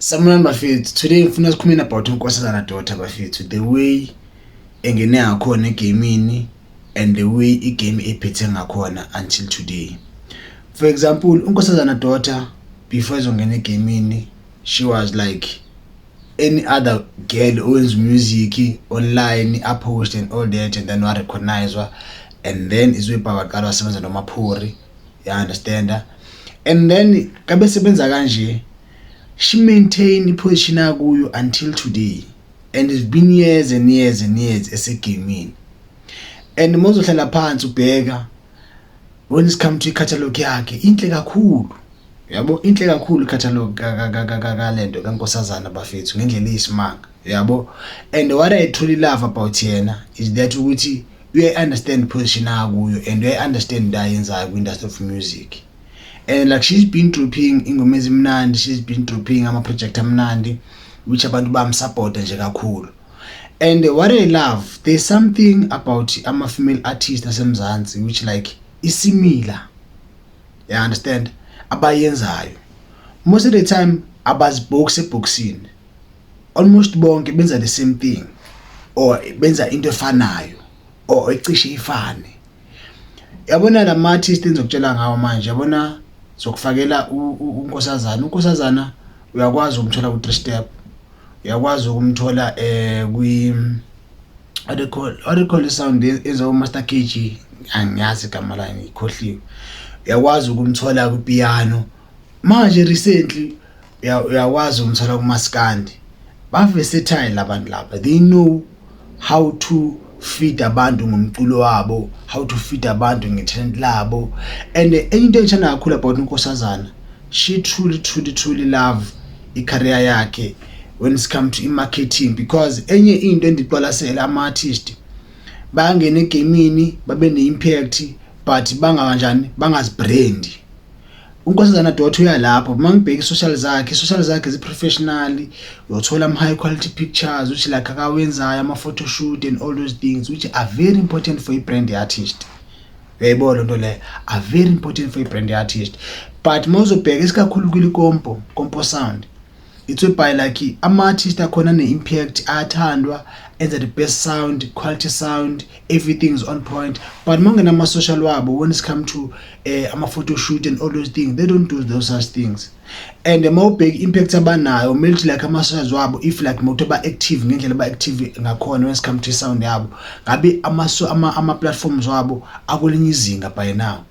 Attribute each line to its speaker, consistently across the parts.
Speaker 1: Samuel bafethu today ngifuna sikhulumeni about unkosazana daughter bafethu the way engene ngakhona egamini and the way igame ephethe ngakhona until today for example unkosazana daughter before ezongena egamini she was like any other girl owenza music online apost and all that and then warecognizwa and then izwebhakaqala wasebenza nomaphori ya understand and then kabe sebenza kanje she maintain iposition akuyo until today and it's been years and years and years esegamini and mozohlala phansi ubheka when it's come to i-catalog yakhe inhle kakhulu yabo inhle kakhulu i-catalog kalento kankosazana bafethu ngendlela eyisimanga yabo and what i truly love about yena is that ukuthi uyayi-understand position akuyo and uyayi-understand into ayenzayo kwi-industry of music and like she's been dropping ingoma ezimnandi she's been dropping ama-project amnandi which abantu bamsupporta nje kakhulu and what i love there's something about ama-female artist asemzansi which like isimila ya understand abayenzayo most of the time abazibhoksi ebhoksini almost bonke benza the same thing or benza into efanayo or ecishe ifane yabona la ma-artist engizokutshela ngawo manje yabona zokufakela unkosazana unkosazana uyakwazi ukumthola ku-three step uyakwazi ukumthola um kwi what they call what they call the sound ezo master kg angiyazi igama layo ngikhohliwe uyakwazi ukumthola kwipiano manje recently uyakwazi ukumthola kumaskandi baversatile labantu laba they know how to feed abantu ngomculo wabo how to feed abantu ngetalent labo and enye into engithanda kakhulu about unkosazana she truly truly truly love icareer yakhe when it comes to i-marketing because enye into endiqwalasela ama-artist bayangena egemini babe ne-impact but bangakanjani bangazibrandi uNkosazana Dot uyalapho uma ngibheka i-social zakhe i-social zakhe zi-professional uyothola ama-high quality pictures which like akawenzayo ama-photo shoot and all those things which are very important for i-brand ye-artist uyayibona loo nto leyo are very important for i-brand ye-artist but uma uzobheka isikakhulu kwilikompo kompo sound It's a by like ama artist akhona ne impact athandwa enza the best sound, quality sound, everything is on point. But mangena ama social wabo when it's come to uh, ama photo shoot and all those things, they don't do those such things. And uma ubheka impact abanayo, melt like ama socials wabo if like moto ba active ngendlela ba active ngakhona when it's come to sound yabo. Ngabe ama ama, ama platforms wabo akulinye izinga by now.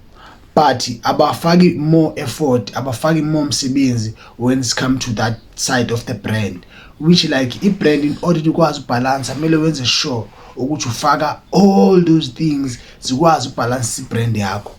Speaker 1: but abafaki more effort abafaki more msebenzi when it's come to that side of the brand which like i-brand in order ikwazi ubhalansa kumele wenze sure ukuthi ufaka all those things zikwazi ubhalansa i-brand yakho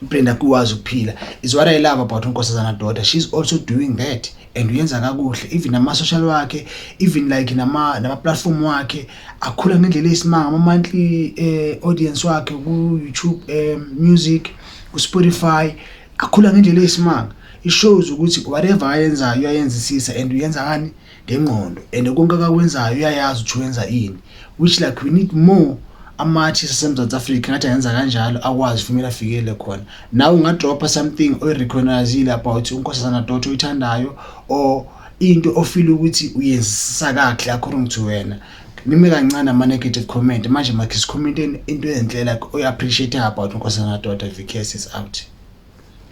Speaker 1: i-brand yakho ikwazi ukuphila is what i love about unkosazana daughter she's also doing that and uyenza kakuhle even nama social wakhe even like nama nama platform wakhe akhula ngendlela eyisimanga ama monthly eh, audience wakhe ku YouTube eh, music ku Spotify akhula ngendlela eyisimanga it shows ukuthi whatever ayenzayo uyayenzisisa and uyenza kani ngengqondo and konke akakwenzayo uyayazi ukuthi wenza ini which like we need more amathi sasemzantsi afrika ngathi ayenza kanjalo akwazi fumela afikele khona nawe ungadropha something oyirecognizile about unkosazana dot oyithandayo or into ofile ukuthi uyenzisa kahle according to wena nime kancane ama-negative comment manje makhe sikhomenteni into enhle like oyi-appreciate about unkosazana dot vks is out